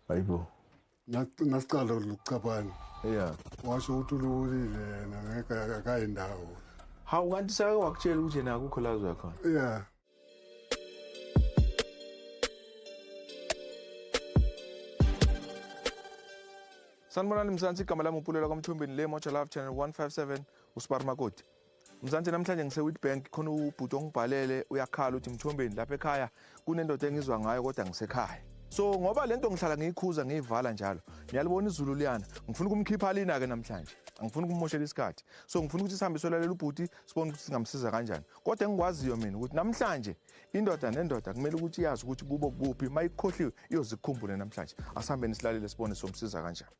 hayibo ngasiqala ukucabana ya washo ukuthi ululile yena ngeke akayi ndawo hawu kanti sake wakutshela ukuthi yena akukho la uzoya khona ya sanibonani mzansi igama lami upulelwa kwamthombeni le moja love channel 157 usibar makoti Mzansi namhlanje ngiseWitbank khona ubhuti ongibhalele uyakhala uthi Mthombeni lapha ekhaya kunendoda engizwa ngayo kodwa ngisekhaya so ngoba lento ngihlala ngiyikhuza ngiyivala njalo niyalibona izulu liyana ngifuna ukumkhipha lina ke namhlanje angifuni ukumoshela isikhathi so ngifuna ukuthi sihambe solalela ubhuti sibone ukuthi singamsiza kanjani kodwa engikwaziyo mina ukuthi namhlanje indoda nendoda kumele ukuthi iyazi ukuthi kubo kuphi mayikhohliwe iyozikhumbule namhlanje asihambeni silalele sibone somsiza kanjani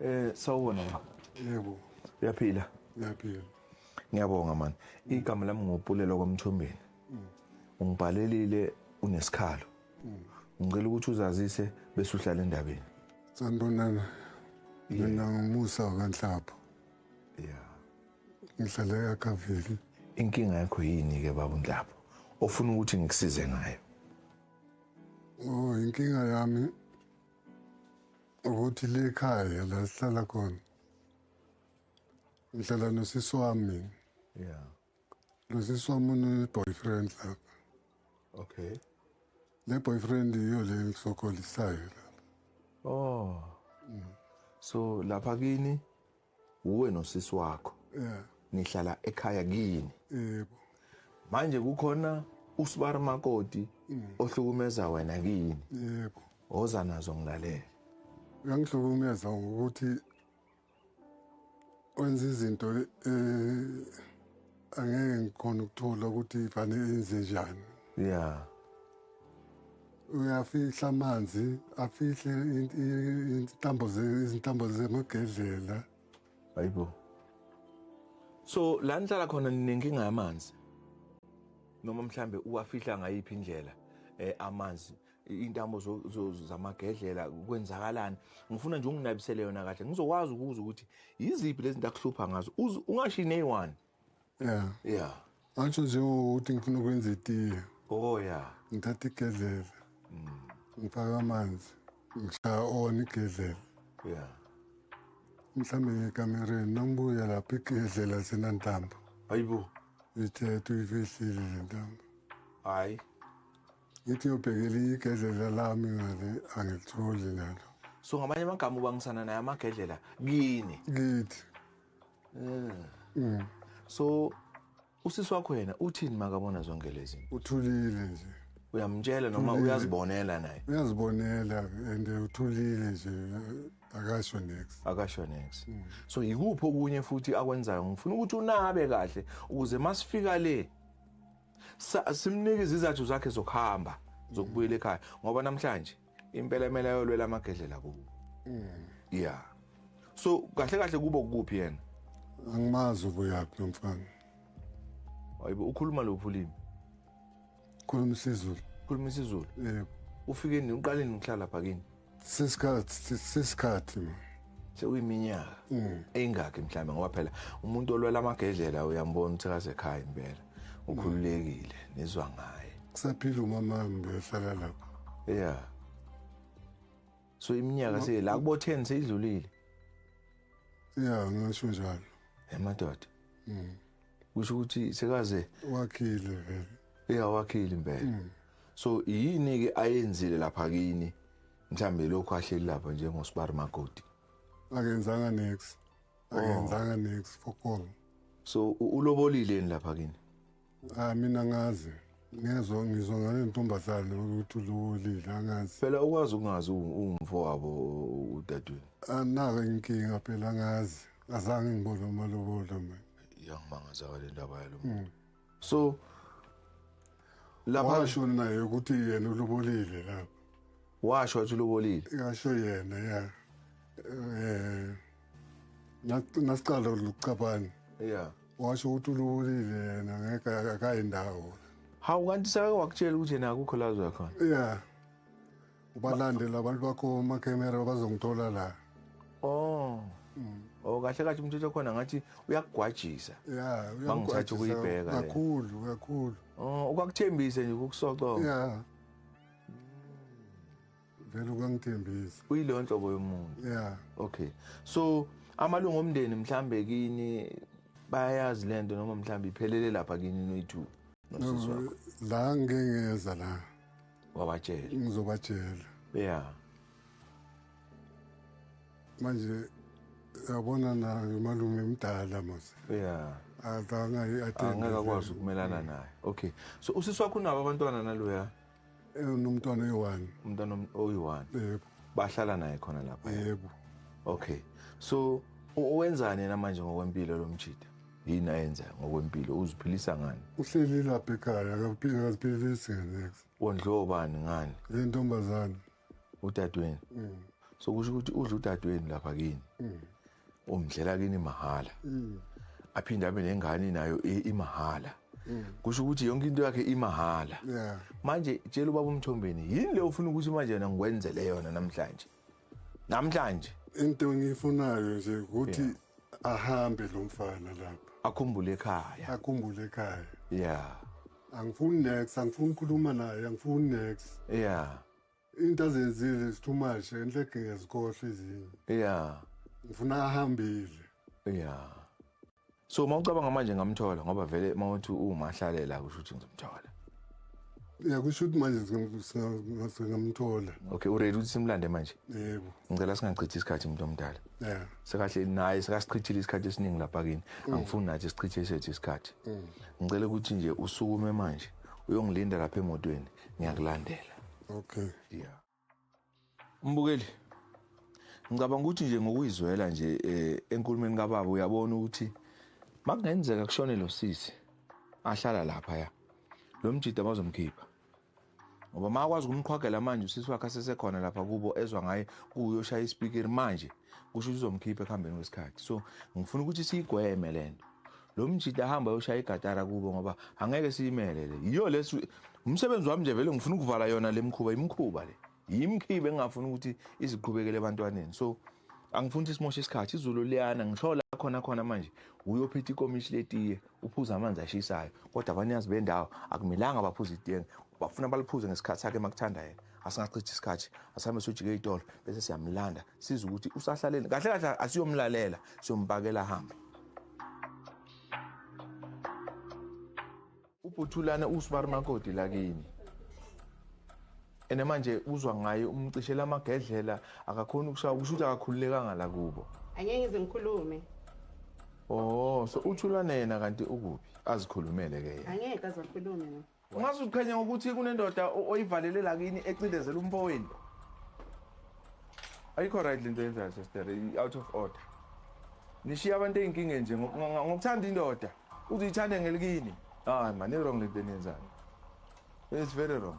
Eh sawubona baba. Yebo. Uyaphila? Uyaphila. Ngiyabonga man. Igama lami ngopulelo kwamthombeni. Mm. Ungibhalelile unesikhalo. Mm. Ngicela ukuthi uzazise bese uhlala endabeni. Sanibonana. Mina ngumusa kanhlapho. Yeah. Ngihlala eKaveli. Inkinga yakho yini ke baba Ndlapho? Ofuna ukuthi ngikusize ngayo. Oh, inkinga yami ukuthi le khaya la sihlala khona ngihlala nosisi wami yeah nosisi wami une-boyfriend lapha okay le boyfriend yiyo le ngisokolisayo lapha oh mm. so lapha kini uwe nosisi wakho yeah nihlala ekhaya kini yebo manje kukhona usibari makoti mm. ohlukumeza wena kini yebo oza nazo ngilalela uyangihlukumeza ngokuthi wenza izinto eh angeke ngikhona ukuthola ukuthi ifane enze njani yeah uyafihla amanzi afihle intambo izintambo zemagedlela hayibo so la nihlala khona ninenkinga yamanzi noma mhlambe uwafihla ngayiphi indlela eh amanzi intambo zamagedlela kwenzakalani ngifuna nje unginabisele yona kahle ngizokwazi ukuza ukuthi yiziphi lezi zinto akuhlupha ngazo ungashi neyi-one ya ya angisho njengokuthi ngifuna ukwenza itiye oh ya ngithatha igedlela mm. ngifaka amanzi ngishaya ona igedlela ya mhlawumbe ngekamereni nangibuya lapho igedlela senantambo hayibo ithethe uyifihlile le ntambo hayi Ngithi ngiyobhekela igedlela lami ngale angilitholi nalo. So ngamanye amagama ubangisana naye amagedlela kini. Kithi. Mm. Mm. So usisi wakho yena uthini makabona zonke lezi? Uthulile nje. Uyamtshela noma uyazibonela naye? Uyazibonela and uthulile nje akasho next. Akasho next. Mm. So yikuphi okunye futhi akwenzayo ngifuna ukuthi unabe kahle ukuze masifika le simnike izizathu zakhe zokuhamba zokubuyela ekhaya ngoba namhlanje impela emele ayolwela amagedlela kuwo mm. yeah so kahle kahle kubo kuphi yena angimazi ubuyaphi nomfana hayibo ukhuluma lophi ulimi khuluma isizulu khuluma isizulu yebo ufike nini uqale nini ukuhlala phakini sisikhathi sisikhathi sekuyiminyaka mm. engakhi mhlawumbe ngoba phela umuntu olwela amagedlela uyambona ukuthi akasekhaya impela ukhululekile nizwa ngaye kusaphila umama ngiyohlala lapho yeah so iminyaka se la kubo 10 seyidlulile yeah ngisho njalo emadoda mm kusho ukuthi sekaze wakhile vele yeah wakhile impela mm. so yini ke ayenzile lapha kini mhlambe lokho ahleli lapha njengosibari magodi akenzanga next oh. akenzanga next for call so ulobolile ni lapha kini ah mina ngazi ngezwe ngizwa ngale ntombazane ukuthi ulobolile angazi phela ukwazi ukungazi ungumfo wabo udadweni anaka ah, inkinga phela ngazi azange ngibone umalobola mina iyangimangaza ke le ndaba yalo muntu so lapha washo naye ukuthi yena ulobolile lapho washo wathi ulobolile ngasho yena ya eh nasiqala ukucabana yeah washo ukuthi ulobolile yena ngeke akayi ndawo hawu kanti sake wakutshela ukuthi yena akukho lazo yakhona yeah ubalande labantu bakho omakemera bazongithola la oh mm. oh kahle kahle umthetho khona ngathi uyakugwajisa ya bangithatha ukuyibheka kakhulu kakhulu oh ukwakuthembise nje ukukusoca ya vele ukangithembisa uyilo nhlobo yomuntu yeah okay so amalungu omndeni mhlambe kini bayazi lento noma mhlambe iphelele lapha kini noyithu la ngeke ngeza la wabatshela ngizobatshela yeah manje yabona nayo malume mdala mos yeah adanga angeke akwazi ukumelana naye okay so usisi wakho unabo abantwana naloya eh, unomntwana oyi-one umntwana oyi-one yebo bahlala naye khona lapha yebo okay so wenzani yena manje ngokwempilo lo mjida yini ayenzayo ngokwempilo uziphilisa ngani uhleli lapha ekhaya akaziphilisi ngenex wondliwa ubani ngani le ntombazane udadweni mm. so kusho ukuthi udla udadweni lapha kini mm. umdlela kini mahhala mm. aphinde abe nengane nayo e, imahhala mm. kusho ukuthi yonke into yakhe imahhala yeah. manje tshela ubaba umthombeni yini le ufuna ukuthi manje yona ngikwenzele yona namhlanje namhlanje into engiyifunayo nje ukuthi yeah. ahambe lo mfana lapha akhumbule ekhaya akhumbule ekhaya yeah angifuni next angifuni ukukhuluma naye angifuni next yeah into azenzile is too much enhle ngezikhohle izinye yeah ngifuna ahambile yeah so uma ucabanga manje ngamthola ngoba vele uma uthi umahlalela kusho ukuthi ngizomthola ya kusho ukuthi manje singamthola okay uready ukuthi simlande manje yebo ngicela singachithi isikhathi umuntu omdala ya sekahle naye sekasichithile isikhathi esiningi lapha kini mm. angifuni nathi sichithe sethu isikhathi mm. ngicela ukuthi nje usukume manje uyongilinda lapha emotweni ngiyakulandela okay yeah Mbukeli ngicabanga ukuthi nje ngokuyizwela nje eh, enkulumeni kababa uyabona ukuthi makungenzeka kushone lo sisi ahlala lapha ya lo mjida bazomkhipha ngoba ma akwazi ukumqhwagela manje usisi wakhe asesekhona lapha kubo ezwa ngaye kuyoshaya ispeaker manje kusho ukuthi uzomkhipha ekuhambeni kwesikhathi so ngifuna ukuthi siyigweme lento lo mjita ahamba yoshaya igatara kubo ngoba angeke siyimele le yiyo lesi umsebenzi wami nje vele ngifuna ukuvala yona le mkhuba imkhuba le yimkhibe engingafuni ukuthi iziqhubekele ebantwaneni so angifuni ukuthi simoshe isikhathi izulu liyana ngisho la khona khona manje uyophetha ikomishi letiye uphuza amanzi ashisayo kodwa abanikazi bendawo akumelanga baphuze itiye bafuna baliphuze ngesikhathi sakhe makuthanda yena asingachithi isikhathi asihambe sojike itolo bese siyamlanda siza ukuthi usahlaleni kahle kahle asiyomlalela siyompakela ahambe Ubhuthulana uSbar Makoti lakini. Ene manje uzwa ngaye umcishela amagedlela akakhona ukushaya kusho ukuthi akakhululekanga la kubo. Angeke ngize ngikhulume. Oh, so uthulana yena kanti ukuphi? Azikhulumele ke yena. Angeke azakhulume no. Ungaze uqhenye ngokuthi kunendoda oyivalele la kini ecindezela umfowenu. Ayikho right lento yenzayo sister, out of order. Nishiya abantu ezinkingeni nje ngokuthanda indoda. Uze uyithande ngelikini. Hayi man, wrong lento eniyenzayo. It's very wrong.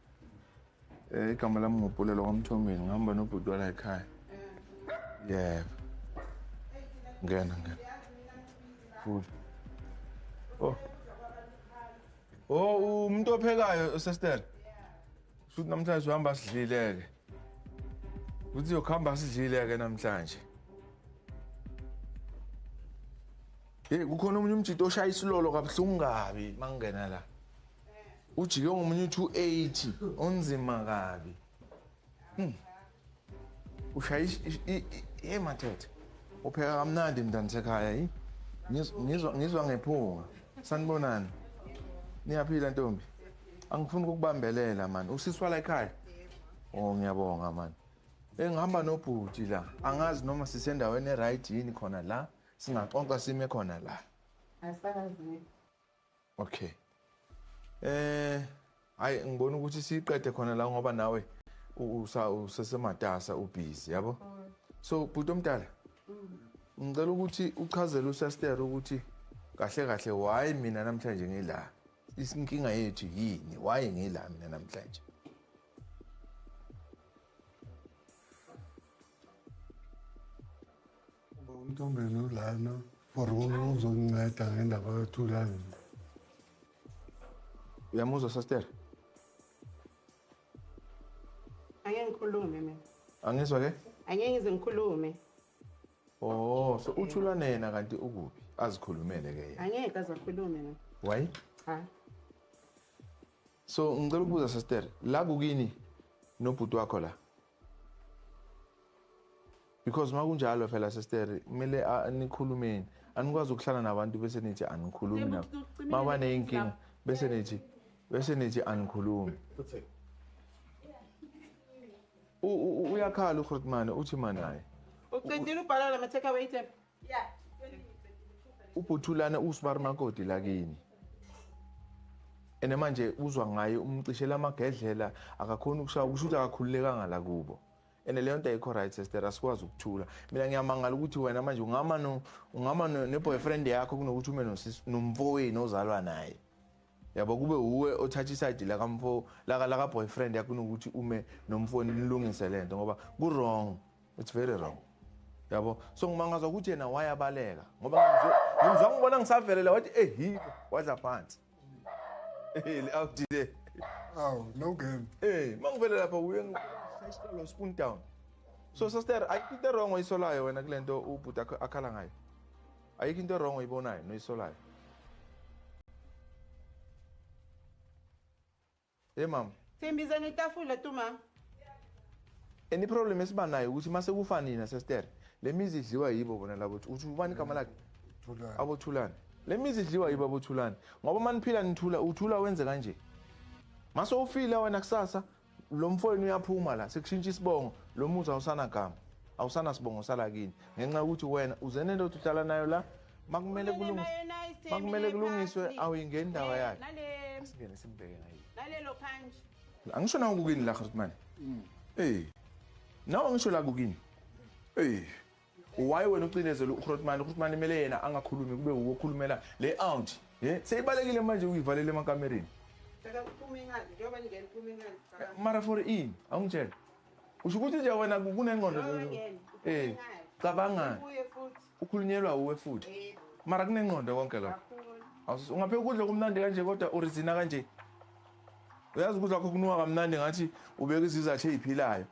Eh igama lami ngopulelo kwamthombeni ngihamba nobhuti wala ekhaya. Yebo. Ngena ngena. Futhi. Oh. Oh umuntu ophekayo sister. Futhi namhlanje uhamba sidlileke. Uthi yokhamba sidlileke namhlanje. Hey kukhona umuntu umjito oshaya isilolo kabuhlungu kabi mangena la. ujike ngomunye u-280 onzima kabi hmm. ushaya hey mathethe upheka kamnandi mntana sekhaya yi ngizwa ngephunga sanibonani niyaphila ntombi angifuni ukukubambelela mani usiswala ekhaya o oh, ngiyabonga mani engihamba nobhuti la angazi noma sisendaweni e-right yini khona la singaxoxa sime khona la Okay. Eh hayi ngibona ukuthi siqede khona la ngoba nawe usa usesematasa ubhizi yabo. Mm. So bhuti omdala. Mm. Ngicela ukuthi uchazele uSaster ukuthi kahle kahle why mina namhlanje ngila. Isinkinga yethu yini? Why ngila mina namhlanje? Uba untombeni ulana for uzonginceda ngendaba yothulani uyamuzwa sister angeke ngikhulume mina angizwa ke angeke ngize ngikhulume oh so uthulane yena kanti ukuphi azikhulumele ke yena angeke azakhulume mina why ha so ngicela ukubuza sister la kukini nobhuti wakho la because makunjalo phela sestere kumele nikhulumeni anikwazi ukuhlala nabantu bese nithi anikhulumi nabo mabaneyinkinga bese nithi bese nithi anikhulumi uyakhala ugrotmane uthi manaye ucedile ubhala la ma-take away tap ubhuthulana usmar makoti lakini ene manje uzwa ngaye umcishela amagedlela akakhoni ukushaya kusho ukuthi akakhululekanga la kubo ene leyo nto ayikho right sister asikwazi ukuthula mina ngiyamangala ukuthi wena manje ungama ungama ne-boyfriend yakho kunokuthi ume nomfowenu ozalwa naye yabo kube uwe othatha isayidi lakamfo laka laka boyfriend yakho kunokuthi ume nomfoni nilungise lento ngoba ku wrong it's very wrong yabo so ngimangaza ukuthi yena wayabaleka ngoba ngimzwa ngibona ngisavelela wathi ehibo wadla phansi eheli awudile aw no game eh mangivele lapha uye ngisayisitolo spoon down so sister ayikho into wrong oyisolayo wena kulento ubhuti akhala ngayo Ayikho into wrong oyibonayo noyisolayo. Hey mama. Simbiza netafula tu mama. Any problem esiba nayo ukuthi mase kufa nina sister. Le mizi idliwa yibo bona labo uthi ubani igama lakhe? Thulani. Abo Thulani. Le mizi idliwa yibo abo Thulani. Ngoba maniphila nithula uthula wenze kanje. Mase ufile wena kusasa lo mfowenu uyaphuma la sekushintsha isibongo lo muzi awusanagama awusanasibongo sala kini ngenxa yokuthi wena uze nento othi uhlala nayo la makumele kulungiswe makumele kulungiswe awuyingeni indaba yakhe asingene simbheke ngayo nalelo kanje angisho nawo kukini la Khrutman mm. eh nawo angisho la kukini eh Why wena ucinezela uGrootman? UGrootman imele yena angakhulumi kube wuwo okhulumela le aunt. Ye, seyibalekile manje uyivalele emakamereni. Cela kuphume incwadi njengoba ningena iphume incwadi. Eh, mara for in, awungitshela. Usho ukuthi nje wena kunengqondo eh cabanga. Ukhulunyelwa uwe futhi. Eh. Mara kunengqondo konke lokho. Awusuthi ungapheka ukudla kumnandi kanje kodwa urizina kanje. Uyazi ukudla kwakho kunuka kamnandi ngathi ubeka izizathu eziphilayo.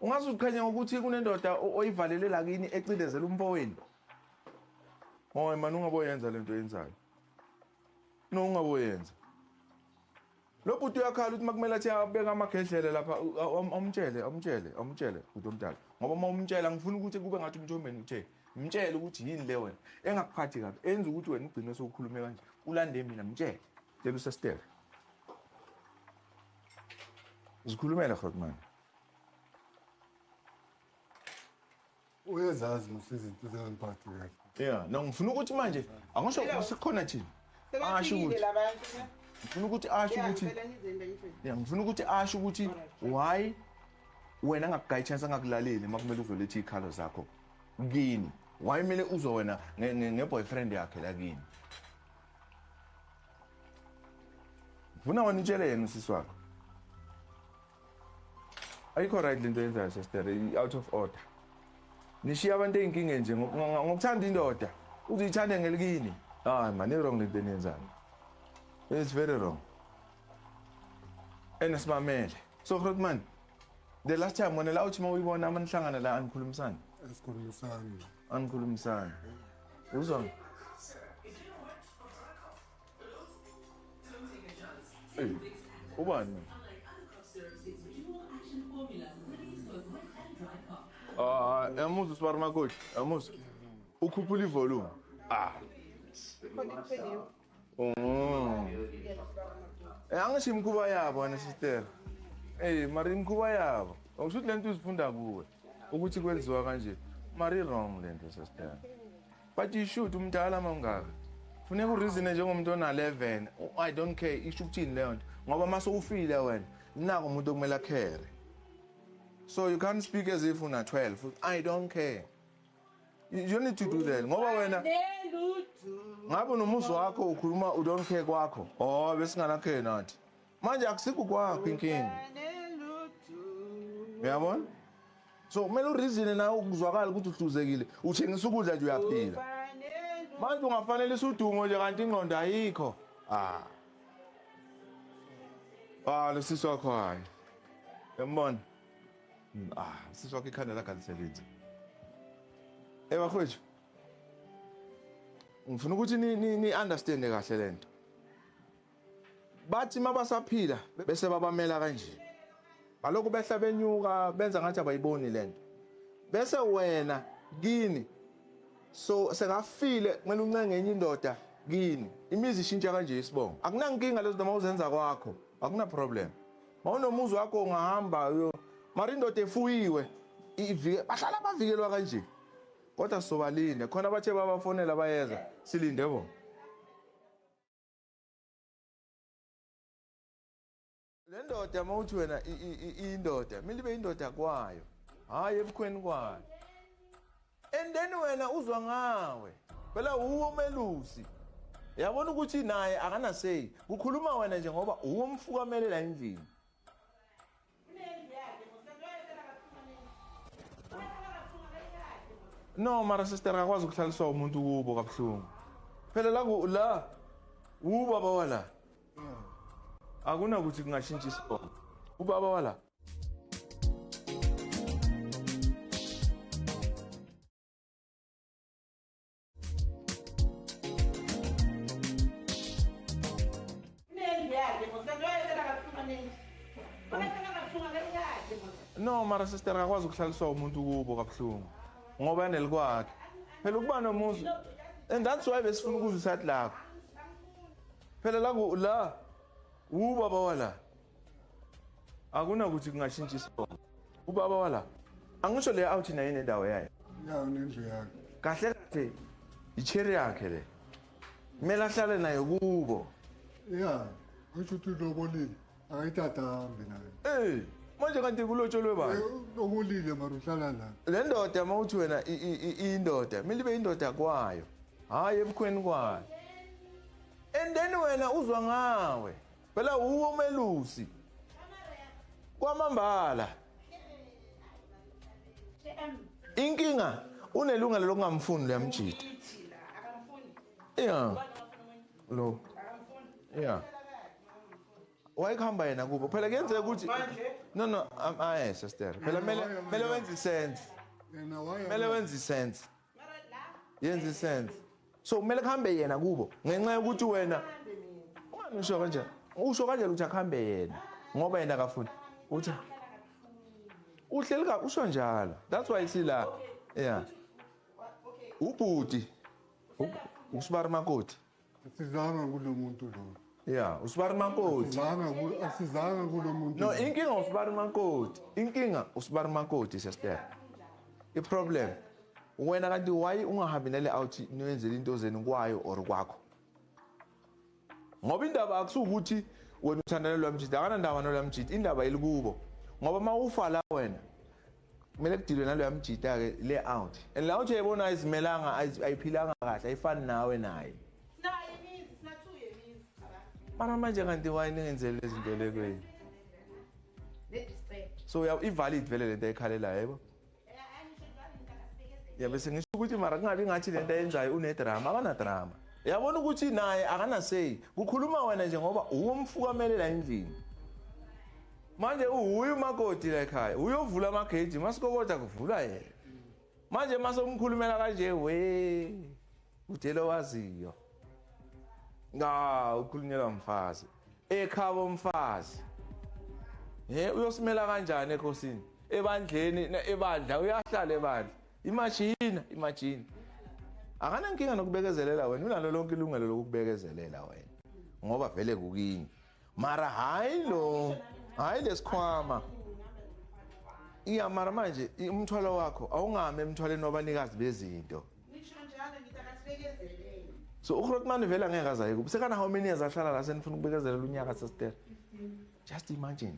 Ungaze uziqhenye ngokuthi kunendoda oyivalele la kini ecindezela umfowenu. Hoy man ungaboyenza lento yenzayo. No ungaboyenza. Lo bhuti uyakhala ukuthi makumele athi abeka amagedlele lapha awumtshele awumtshele awumtshele bhuti omdala ngoba uma umtshela ngifuna ukuthi kube ngathi umthombeni uthe mtshele ukuthi yini le wena engakuphathi kabi enza ukuthi wena ugcine sewukhulume kanje ulande mina mtshele tshela usesitele zikhulumela hotman uyezazi musa izinto zingangiphathi kahle ya no ngifuna ukuthi manje angasho ukuthi khona thina asho ukuthi ngifuna ukuthi asho ukuthi ya ngifuna ukuthi asho ukuthi why wena ngakugayi chance angakulaleli uma kumele uzoletha iy'khalo zakho kini why kumele uzo wena nge-boyfriend yakhe la kini ngifuna wena utshele yena usisi wakho ayikho right lento yenzayo sister out of order nishiya abantu ezinkingeni nje ngokuthanda indoda uzithande ngelikini hayi man i wrong lento eniyenzani it's very wrong and simamele so Grootman the last time wena la uthi uma uyibona amanihlangana la anikhulumisani asikhulumisani anikhulumisani uzwa Hey, ubani? Ah, yamuzwa usibari makoti, yamuzwa. Ukhuphula ivolume. Ah. Mm. Eh, angisho imikhuba yabo wena sister. Eh, mari imikhuba yabo. Awusho ukuthi lento uzifunda kuwe ukuthi kwenziwa kanje. Mari wrong lento sister. But you should umdala mawungaka. Funeka ureason njengomuntu ona 11. I don't care isho ukuthini leyo nto. Ngoba mase ufile wena. Nako umuntu okumele akhere. So you can't speak as if una 12. I don't care. You need to do that. Ngoba wena ngabe nomuzi wakho ukhuluma u don't care kwakho. Oh besingana care nathi. Manje akusikho kwakho inkingi. Uyabona? so kumele urizine nawe ukuzwakala ukuthi uhluzekile uthengisa ukudla nje uyaphila manje ungafanelisa udumo nje kanti ingqondo ayikho ah ah lo sisi wakho hayi yambona hmm, ah sisi wakho ikhanda lakhe alisebenzi eh bakhwethu ngifuna ukuthi ni ni understand kahle lento Bathi mabasaphila bese babamela kanje. Balokhu behla benyuka benza ngathi abayiboni lento. Bese wena kini so sekafile kumele uncenge enye indoda kini. Imizi ishintsha kanje isibongo. Akunankinga lezo noma uzenza kwakho. Akuna problem. Mawunomuzi wakho ungahamba yo. Mara indoda efuyiwe ivike bahlala bavikelwa kanje. Kodwa sobalinde khona abathe babafonela bayeza silinde bo. le ndoda uma uthi wena indoda kumele ibe indoda kwayo hhayi ebukhweni kwayo and then wena uzwa ngawe phela wuwe umelusi yabona ukuthi naye akanaseyi kukhuluma wena nje ngoba uwomfukamelela endlini no mara sister akakwazi ukuhlaliswa umuntu kubo kabuhlungu phela la la ubaba wala akunakuthi kungashintsha isibongo ubaba wala no mara sister akakwazi ukuhlaliswa umuntu kubo kabuhlungu ngoba enelikwakhe phela ukuba nomuzi and that's why besifuna ukuzwa isati lakho phela la la wubaba wala akunakuthi kungashintsha isibongo ubaba wala angisho le awuthi naye nendawo yayo ya unendlu yakhe kahle kahle icherry yakhe le kumele ahlale nayo kubo ya ngisho ukuthi ulobolile akayithatha hambi nayo eh manje kanti kulotsholwe bani eh, lobolile mara uhlala la le ndoda uma uthi wena indoda kumele ibe indoda kwayo hhayi ebukhweni kwayo and then wena uzwa ngawe Phela uwo melusi. Kwamambala. Inkinga unelungelo lokungamfuni leyamjita. Yeah. Lo. Yeah. wayekuhamba yena kubo phela kuyenzeka ukuthi no no aye sister phela mele mele wenze isense mele wenze isense yenza isense so kumele kuhambe yena kubo ngenxa yokuthi wena ungani usho kanjani usho kanjani ukuthi akuhambe yena ngoba yena akafuni uthi uhleli ka usho njalo that's why sila yeah ubhuti usibarumakoti Sizanga kulo muntu lo. Yeah, usibari makoti. Sizanga kulo asizanga kulo muntu. No, inkinga usibari makoti. Inkinga usibari makoti sister. I problem wena kanti why ungahambi nale out noyenzela into zenu kwayo or kwakho. Ngoba indaba akusukuthi wena uthandana lwamjidi akanandaba nolwamjidi indaba ilikubo. Ngoba mawufa la wena kumele kudilwe naloya mjita-ke le out and la uthi yayibona ayizimelanga ayiphilanga kahle ayifani nawe naye mara manje kanti wayini ngenzele lezi nto le kwenu so i-valid vele le nto ayikhalelayo yebo yabe sengisho ukuthi mara kungabi ngathi le nto ayenzayo unedrama akanadrama yabona ukuthi naye akanaseyi kukhuluma wena nje ngoba uwomfukamelela endlini manje uhuye umakoti la ekhaya uyovula amageji masikokoda kuvula yena manje masomkhulumela kanje we utshela owaziyo nga ukhulunyelwa mfazi ekhabo umfazi he uyosimela kanjani ekhosini ebandleni ebandla uyahlala ebandla imashina imashina akanankinga nokubekezelela wena unalo lonke ilungelo lokubekezelela wena ngoba vele kukini mara hayi lo hayi lesikhwama iya mara manje umthwalo wakho awungami emthwaleni wabanikazi bezinto so uhrotman vele angeke azaye kubo sekana how many years ahlala la senifuna ukubekezelela unyaka sesitera just imagine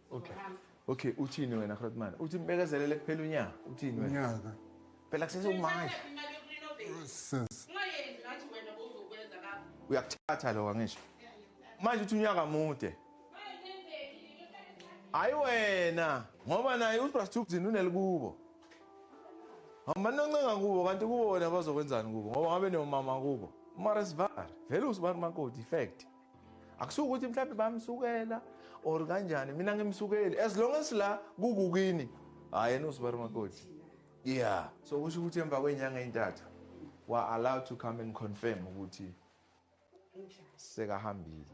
Okay. Okay, uthini wena Grootman? Uthi mbekezelele kuphela unyaka. Uthini wena? Unyaka. Phela kusese umanje. Sis. Uyakuthatha lo kangisho. Manje uthi unyaka mude. Hayi wena, ngoba naye uSbrastubzini unelikubo. Hamba noncenga kubo kanti kubo wena bazokwenzani kubo ngoba ngabe nomama kubo. Mara sivar. Vele usibani makoti fact. akusuke ukuthi mhlawumbe bamsukela or kanjani mina ngimsukeli as long as la kukukini hhayi yena usibari makoti yeah so kusho ukuthi emva kwenyanga ey'ntathu were allowed to come and confirm ukuthi sekahambile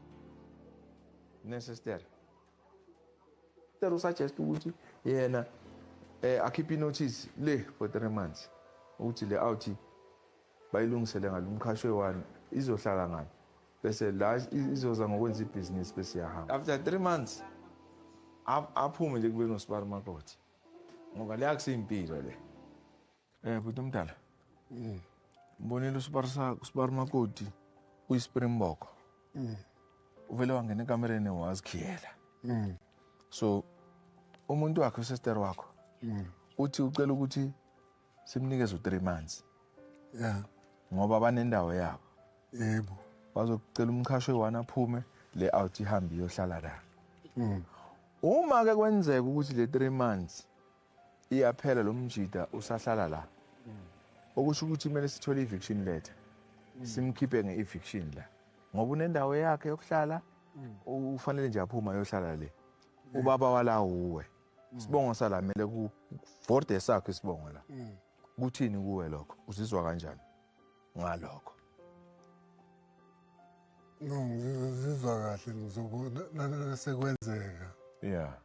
nesestere ter usuggest ukuthi yena eh akhiphe inotice le for three months ukuthi le awuthi Bayilungisele ngani umqhashi oyi-one izohlala ngani bese la izoza ngokwenza ibhizinisi bese iyahamba after three months aphume nje kube nosibari makoti ngoba le akusiyimpilo le um bhuti omdala mm. mbonile usibari makoti uyispringboko mm. uvele wangena ekamereni wazikhiyela mm. so umuntu wakhe usester wakho uthi ucela ukuthi simnikeza u-3 months yeah ngoba banendawo yabo yebo bazokucela umchasho eyi-one aphume le out ihambe iyohlala la mm. uma ke kwenzeka ukuthi le 3 months iyaphela lo mjida usahlala la mm. okusho ukuthi kumele sithole i-eviction letter mm. simkhiphe nge-eviction la ngoba unendawo yakhe yokuhlala ufanele nje aphuma ayohlala le ubaba wala uwe isibongo sala mele ku vorde sakho isibongo la mm. kuthini kuwe lokho uzizwa kanjani ngalokho no ngizizwa kahle ngizobona sekwenzeka yeah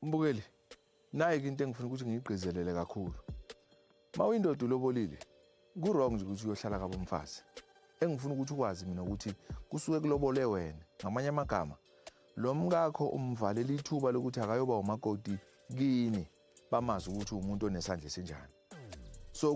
mbukeli nayi into engifuna ukuthi ngiyigqizelele kakhulu Uma uyindoda ulobolile kurong nje ukuthi uyohlala kabo mfazi engifuna ukuthi ukwazi mina ukuthi kusuke kulobole wena ngamanye amagama lo mkakho umvalela ithuba lokuthi akayoba umakoti kini bamazi ukuthi umuntu onesandla esinjani so